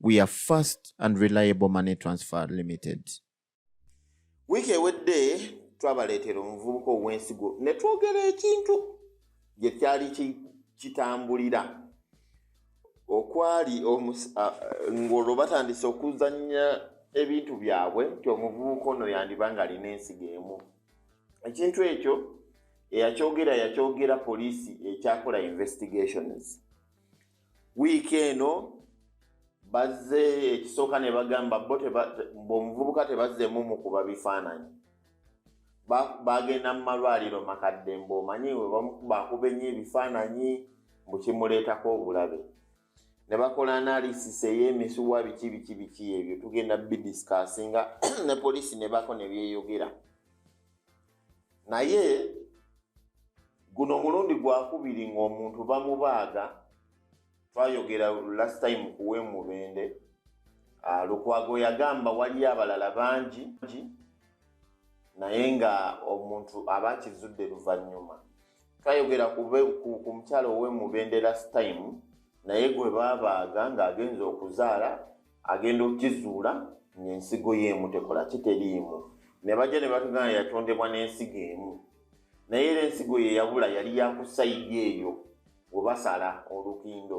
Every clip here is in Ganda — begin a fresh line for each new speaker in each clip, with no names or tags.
We are fast and reliable money transfer limited.
Wiiki ewedde twabaleetera omuvubuka ow'ensigo ne twogera ekintu gye kyali kitambulira okwali ng'olwo batandise okuzannya ebintu byabwe nti omuvubuka ono yandiba ng'alina ensigo emu ekintu ekyo eyakyogera yakyogera poliisi ekyakola investigations wiiki eno bazze ekisooka ne bagamba bo omuvubuka tebazzeemu mukuba bifaananyi bagenda mu malwaliro makadde mbu omanyi webakuba ennyo ebifaananyi mbu kimuleetako obulabe ne bakola analisisi ey'emisuwa biki biki biki ebyo tugenda bidisikasinga ne poliisi ne bako ne byeyogera naye guno omulundi gwakubiri ng'omuntu bamubaaga twayogera last time kuwe mubende ah, lukwago yagamba waliyo abalala bangi naye nga omuntu aba akizudde luvannyuma twayogera ku mukyalo owe mubende last time naye gwe babaaga ng'agenza okuzaala agenda okukizuula ng'ensigo ye emu tekola kiteriimu ne bajja ne batugana yatondebwa n'ensigo emu naye era ensigo ye yabula yali yakusayidi eyo we basala olukindo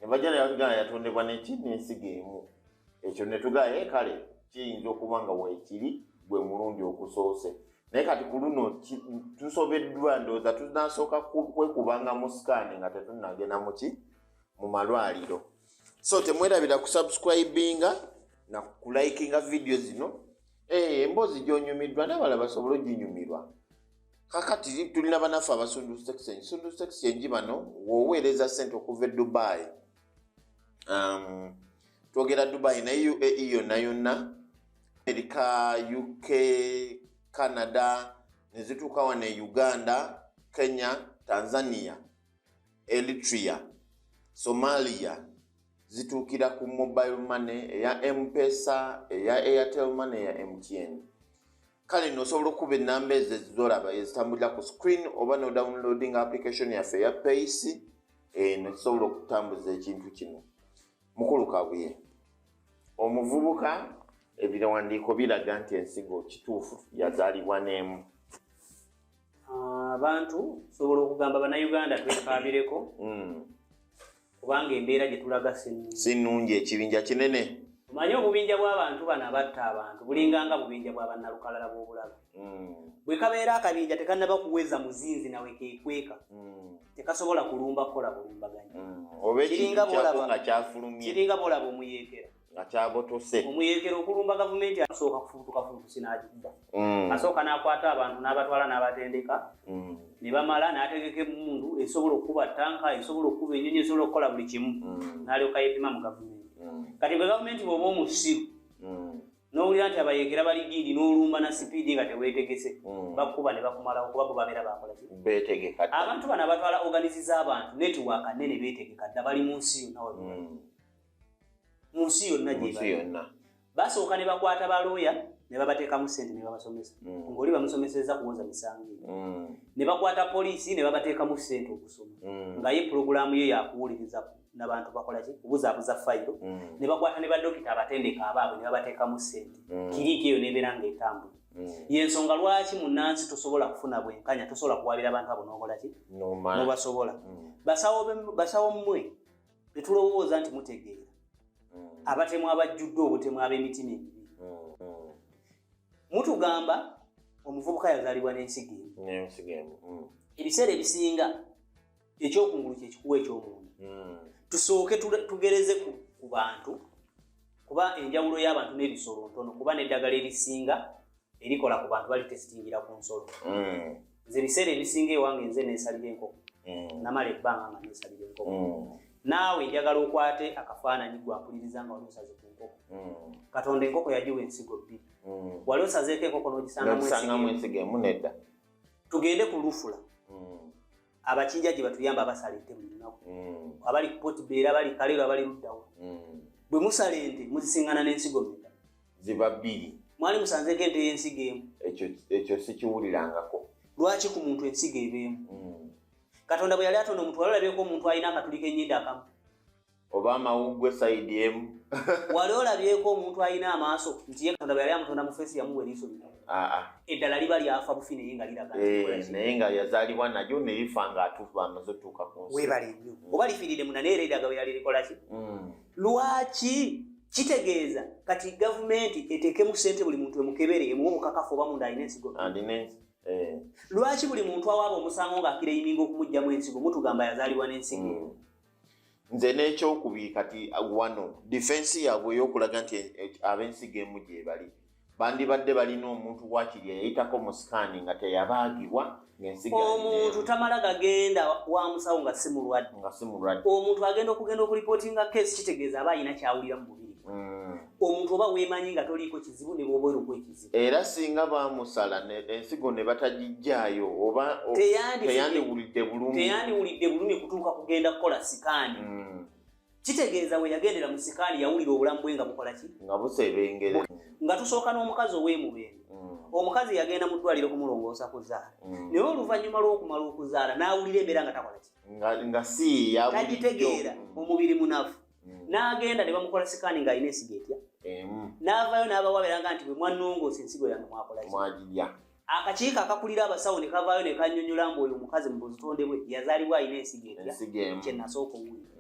ne bajja ne batugana yatondebwa neki n'ensigo emu ekyo ne tugaye eh, kale kiyinza okuba nga weekiri gwe mulundi ogusoose naye kati ku luno tusobeddwa ndowooza tunasooka kwekubanga mu sikaani nga tetunagenda muki mu malwaliro so temwerabira kusubscribinga na kulikinga vidiyo zino eh, emboozi gyonyumiddwa nabala basobole oginyumirwa kakati tulina banaffe abasundu section sundu section ngi bano woweereza sente okuva e dubai um, twogera dubai naye uae yonna yonna amerika uk canada nezituuka wano e uganda kenya tanzania Eritrea, Somalia zituukira ku mobile money eya mpesa eya airtel money eya mtn kale nosobola okuba enamba ezo ezizolaba ezitambulira ku screen oba no downloading application yaffe eya pace eno eh, kisobola okutambuza ekintu kino mukulu kabuye omuvubuka ebiwandiiko biraga nti ensigo kituufu yazaalibwa n'emu abantu
sobola okugamba banauganda twekaabireko hmm. kubanga embeera gye tulaga si nnungi
ekibinja kinene omanyi obubinja
bw'abantu bano abatta abantu bulinganga bubinja bwa bannalukalala bw'obulabe hmm. bwe kabeera akabinja tekannaba kuweza muzinzi nawe kekweka hmm. tekasobola kulumba kukola bulumbaganyi mm. oba ekintu kyako nga kyafulumye kiringa bolaba omuyeekera nga kyabotose
omuyeekera okulumba
gavumenti asooka kufubutuka fubutusi n'agikuba mm. asooka n'akwata abantu n'abatwala n'abatendeka mm. ne bamala n'ategeka emmundu esobola okukuba tanka esobola okukuba enyonyi esobola okukola buli kimu mm. n'alyoka yeepima mu gavumenti kati bwe gavumenti bweoba omusiru nowulira nti abayekera bali diidi nolumba na sipiidi nga tewetegese hmm. bakuba nebakumalawo kuba bo babeera bakolakbetegeka abantu
bano abatwala
oganizi z'abantu netiwaaka nene betegeka dda bali mu nsi yonna hmm. mu nsi yonna gyeyonna basooka ne bakwata balooya ne babateekamu sente ne babasomesa hmm. ngaoli bamusomeseza kuwoza misango ne bakwata poliisi ne babateekamu sente okusoma nga ye pulogulaamu ye yakuwuliriza ku nabantu bakola ki kubuzabuza fayiro mm. ne bakwata ne badokita abatendeka abaabwe ne babateekamu ssente mm. kiriiki eyo nebeera nga etambula mm. yensonga lwaki munansi tosobola kufuna bwenkanya tosobola kuwabira abantu abo nokola ki nobasobola mm. basawo mmwe tetulowooza nti mutegeera mm. abatemu abajjudde obutemu ab'emitima emibi mm. mm. mutugamba omuvubuka yazaalibwa n'ensiga emu mm. ebiseera ebisinga ekyokungulu kyekikuwa ekyomunda hmm. tusooke tugereze ku bantu kuba enjawulo y'abantu n'ebisolo ntono kuba n'eddagala erisinga erikola ku bantu bali tesitingira ku nsolo hmm. nze ebiseera ebisinga ewange nze nesalira enkoko hmm. namala ebbanga nga nesalira enkoko naawe njagala okwate akafaananyi gwampuliriza nga wali osaze ku nkoko katonda enkoko yagiwa ensigo bbiri wali osazeeko enkoko n'ogisangamu ensigo emu nedda
tugende ku
lufula abakinja gye batuyamba abasala ente buli lunaku mm. abali kupoti beera abali kaleero abali luddawo mm. bwe musala ente muzisingana n'ensigo meka ziba bbiri
mwali musanzeeko ente
y'ensigo emu ekyo
sikiwulirangako lwaki ku muntu
ensigo ebeemu mm. katonda bwe yali atonda omuntu wali olabyeko omuntu alina akatuli k'enyindo akamu oba
amawuggwe sayidi emu wali olabyeko
omuntu alina amaaso nti ye katonda bwe yali amutonda mu feesi yamuwa eriiso lino ah, ah. eddala liba lyafa bufi naye nga liraga eh, naye nga
yazaalibwa nalyo ne lifa nga atuufa amaze otuuka ku nsi webale nnyo mm. oba lifiirire
muna naye era edaga bwe yali likola ki mm. lwaki kitegeeza kati gavumenti eteekemu ssente buli muntu emukebere emuwa omukakafu oba munda alina ensigo eh. lwaki buli muntu awaaba omusango ng'akira eyiminga okumugjamu ensigo mutugamba yazaalibwa n'ensigo mm. nze
n'ekyokubiri kati wano difensi yaabwe ey'okulaga nti abensi gemu gyebali bandibadde balina omuntu wakiri yayitako mu sikaani nga teyabaagibwa omuntu tamala
gagenda wa musawo nga si mulwadde nga si mulwadde omuntu agenda okugenda okulipootinga keesi kitegeeza aba alina kyawulira mu mubiri mm. omuntu oba weemanyi nga toliiko kizibu ne bwoba eri okwekizibu era singa
baamusala ensigo ne batagijjaayo oba teyandiwulidde bulumi teyandiwulidde bulumi kutuuka kugenda
kukola sikaani hmm. kitegeeza we yagendera mu sikaani yawulira obulamu bwe nga bukola ki nga busebengere
nga tusooka
n'omukazi ow'emubeere hmm. omukazi yagenda mu ddwaliro kumulongoosa kuzaala hmm. naye oluvannyuma lw'okumala okuzaala n'awulira embeera nga takola ki nga si
yagitegeera omubiri
munafu mm. n'agenda ne bamukola sikaani ng'alina ensigo etya n'avaayo n'abawaabera nga nti bwe mwannongoosa ensigo yange mwakolakimwagirya
akakiiko akakulira
abasawo ne kavaayo ne kannyonnyola mbu oyo omukazi mu buzitonde bwe yazaalibwa alina ensigo etya kye nasooka owulira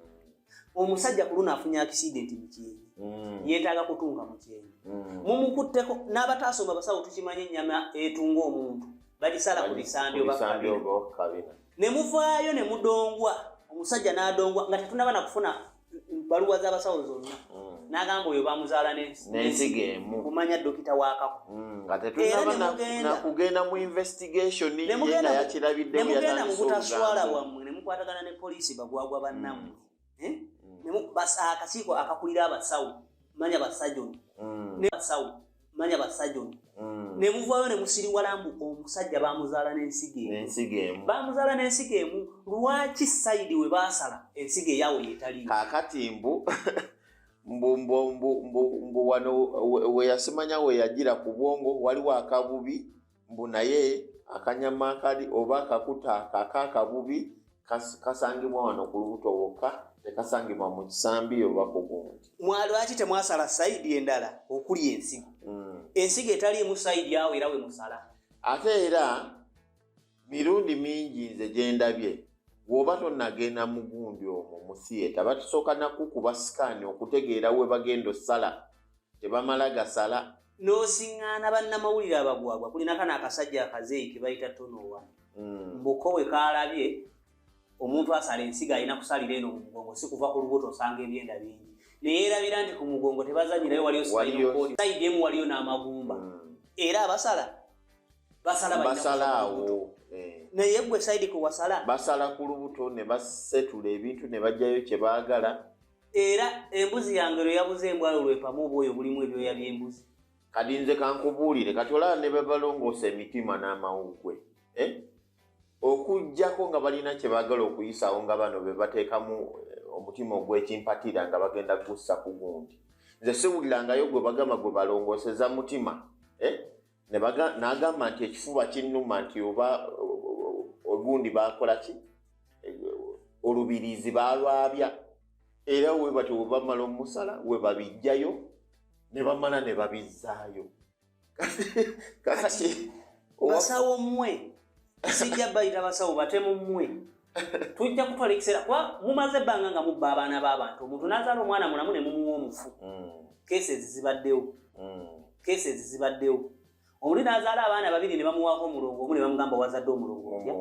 omusajja kuluna afunye accident mukyenyi mm. yetaaga kutunga mukyenyi mm. mumukutteko n'abataasoma basawo tukimanyi ennyama etunga omuntu bagisala ku bisambi oba kabina ne muvaayo ne mudongwa omusajja n'adongwa nga tetunaba na kufuna baluwa z'abasawo zonna mm. n'agamba oyo bamuzaala n'ensiga emu
kumanya dokita wakako
mm, nga
tetunaba kugenda mu investigation ye nga yakirabidde ne mugenda mu butaswala
bwammwe ne mukwatagana ne poliisi bagwagwa bannammwe mm. eh? mm. akakiiko akakulira abasawo manya basajoni mm. basawo manya basajoni mm. ne muvaayo ne musiriwala mbu omusajja bamuzaala n'ensigo emu bamuzaala n'ensigo emu lwaki sayidi we baasala ensigo eyawo yetali kakati mbu
mbu wano weyasimanya weyajira ku bwongo waliwo akabubi mbu naye akanyama akali oba akakuta kakakabubi kasangibwa wano ku lubuto wokka tekasangibwa mu kisambi oba ku gundi mwalwaki temwasala
saidi endala okuli ensigo mm. ensigo etaliimu saidi awo era we musala ate era
mirundi mingi nze gyendabye woba tonagenda mugundi omwo musiyeta batusooka nakukuba sikaani okutegeera we bagenda osala tebamala gasala nosiŋŋaana
bannamawulire abagwagwa kulina kana akasajja akazeeyi ke bayita tonowa hmm. mbuko bwe kaalabye omuntu asala ensiga alina kusalira eno mu mugongo si kuva ku lubuto osanga ebyenda bingi naye erabira nti ku mugongo tebazanyirayo waliyo saidi emu waliyo n'amagumba hmm. era abasala basala basalaawo
eh. naye gwe
saidi kwe wasala basala ku lubuto
ne basetula ebintu ne bajjayo kye baagala era
embuzi yange lwe yabuze embwalo lwepamu obwoyo bulimu ebyoya by'embuzi kati nze
kankubuulire kati olaba ne bebalongoosa emitima n'amawugwe eh? okugyako nga balina kye baagala okuyisaawo nga bano be bateekamu eh, omutima ogw'ekimpatira nga bagenda gussa ku gundi nze siwulirangayo gwe bagamba gwe balongooseza mutima eh? nagamba nti ekifuba kinnuma nti oba ogundi bakola ki olubirizi balwabya era webati webamala omusala webabijjayo nebamala nebabizzaayo
basawo mmwe sijja bayita basawo batemu mmwe tujja kutwala ekiseera kuba mumaze ebbanga nga mubba abaana b'abantu omuntu n'azaala omwana mulamu ne mumuwa omufu mm. keesi ezizibaddewo mm. keesi ezizibaddewo oli n'azaala abaana babiri ne bamuwaako omulongo omu ne bamugamba wazadde omulongo otya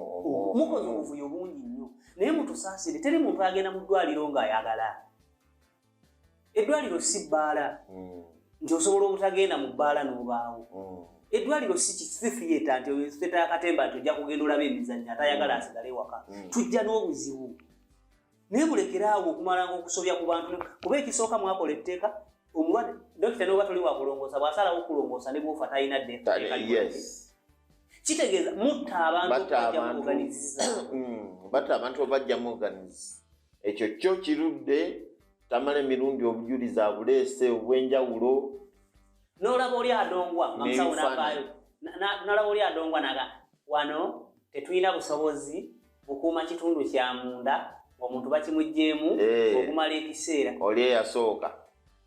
mukoze obuvuyo bungi nnyo naye mutusaasire teri muntu agenda mu ddwaliro ng'ayagala eddwaliro si bbaala hmm. nti osobola obutagenda mu bbaala n'obaawo hmm. eddwaliro si kisifiyeta nti oyoseta akatemba nti ojja kugenda olaba emizannyo atayagala hmm. asigale ewaka tujja n'obuzibu naye mulekere awo okumalanga okusobya ku bantu kuba ekisooka mwakola etteeka omulwadde dokita noba toli wakulongoosa bw'asalawo okulongoosa ne bwofa talina ddeeka kitegeeza mutta abantu
batta abantu obajjamu oganizi ekyo kyo kirudde tamala emirundi obujulizi abuleese obwenjawulo nolaba
oli adongwa nalaba oli adongwa naga wano tetulina busobozi bukuuma kitundu kya munda omuntu bakimugjeemu eh. okumala ekiseera oli eyasooka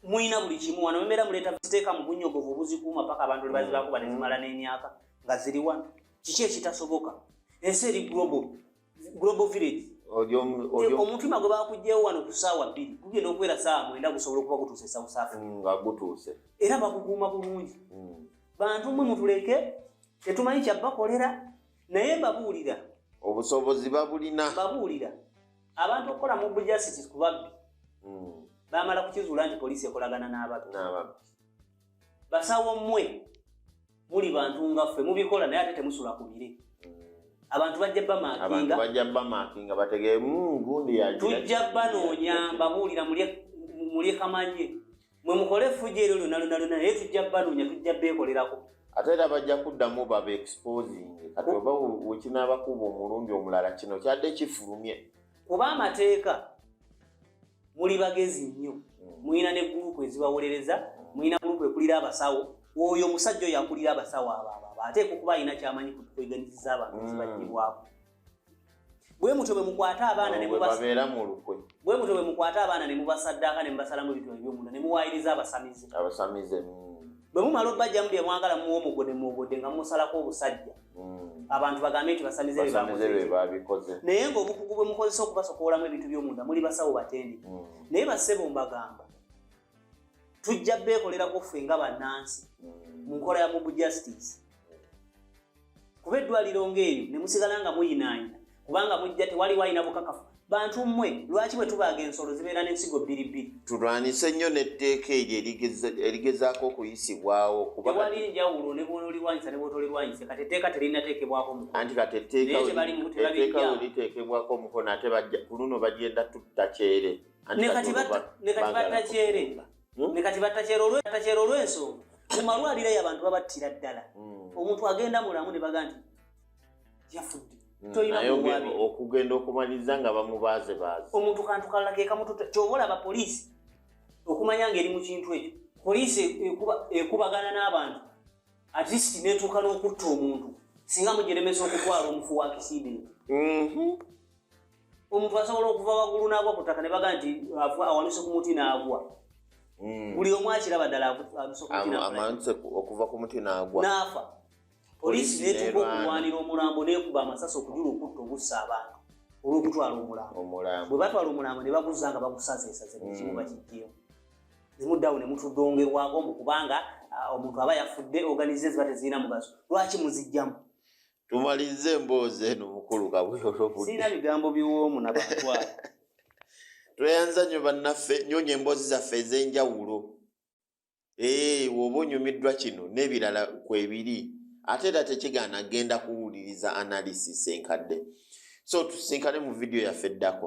mulina buli
kimu wano mumera muleeta ziteeka mu bunyogovu obuzikuuma paka abantu lebazibakuba nezimala n'emyaka nga ziri wano kiki ekitasoboka ensi eri global global village omutima gwe bakugyewo wano ku saawa bbiri gugenda okubeera saawa mwenda gusobola okuba gutuuse e south africa mm, nga gutuuse
era bakukuuma
bulungi mm. bantu mwe mutuleke tetumanyi kyabakolera naye babuulira obusobozi
babulina babuulira
abantu okukola mu bujasiti ku babbi mm. bamala kukizuula nti poliisi ekolagana n'ababbi basawo mmwe muli bantu nga ffe mubikola naye ate temusula ku bire abantu bajja bamakinga bajja bamakinga bategee mungundi
ya tujja
banoonya babuulira mulye kamanye mwe mukole effujo eryo lyona lyona lyona naye tujja banoonya tujja beekolerako ate era bajja
kuddamu baba exposing kati oba wekinabakuba omulundi omulala kino kyadde kifulumye kuba amateeka
muli bagezi nnyo hmm. mulina ne gurupu ezibawolereza hmm. mulina gurupu ekulira abasawo oyo omusajja oyo akulira abasawo abababa ateeka okuba alina kyamanyi kutukoiganiziza abantu ezibajibwako bwe mutyo bwe mukwata abaana ne mubabeera mu lukwe bwe mutyo bwe mukwata abaana ne mubasaddaaka ne mubasalamu ebintu ebyomunda ne muwaayiriza abasamize abasamize bwe mumala obajjamu bye mwagala muwa omugode muwogode nga musalako obusajja hmm. abantu bagambe nti basamize bebabikoze
naye ngaobukugu
bwe mukozesa okubasokowolamu ebintu byomunda muli basawo batendi hmm. naye basebo mbagamba tujja beekolerako ffe nga bannansi mu nkola ya mob justice kuba eddwaliro ngaeyo ne musigala nga muyinaanya kubanga mujja tewaliwo alina bukakafu bantu mmwe lwaki bwe tubaaga ensolo zibeera n'ensigo bbiri bbiri tulwanyise nnyo
n'etteeka eryo erigezaako okuyisibwawo kubawali enjawulo
ne bwonolirwanyisa ne bwotolirwanyise kati etteeka terinateekebwako mukoanti kati
etteekaeteeka we liteekebwako omukono ate ku luno bagenda tutta kyere
ne kati batta kyere hmm? ne kati batta kyere olw'ensonga mu malwaliro eyo abantu babattira ddala hmm. omuntu agenda mulamu ne baga nti yafudde hmm,
okugenda okumaliriza nga bamubaaze baaze omuntu kantu
kalala kekamututa kyoba olaba poliisi okumanya ngaeri mu kintu ekyo poliisi ekubagana n'abantu at least netuuka n'okutta omuntu singa mugiremesa okutwala omufu wa kisidenti mhm. omuntu asobola okuva waggulu n'agwa ku ttaka ne baga nti awanuse ku muti n'agwa hmm. buli omu akiraba ddala
okuva ku muti n'agwa n'afa
Poliisi n'etuuka okulwanira omulambo n'ekuba amasasi okujula okutta ogussa abantu olw'okutwala omulambo. Bwe batwala omulambo ne baguzza nga bagusazeesaze buli kimu mm. bakiggyeyo. Ne muddawo ne mutudongerwako mbu kubanga ah, omuntu aba yafudde oganize ziba tezirina mugaso. Lwaki muziggyamu? Tumalize
emboozi eno mukulu kabuyolobudde. Sirina bigambo
biwoomu na batwala.
Tweyanza nnyo bannaffe, nyonya emboozi zaffe ez'enjawulo. ee eh, woba onyumiddwa kino n'ebirala kwebiri ate era tekigaana genda kuwuliriza analysis enkadde so tusinkane mu vidiyo yaffe eddako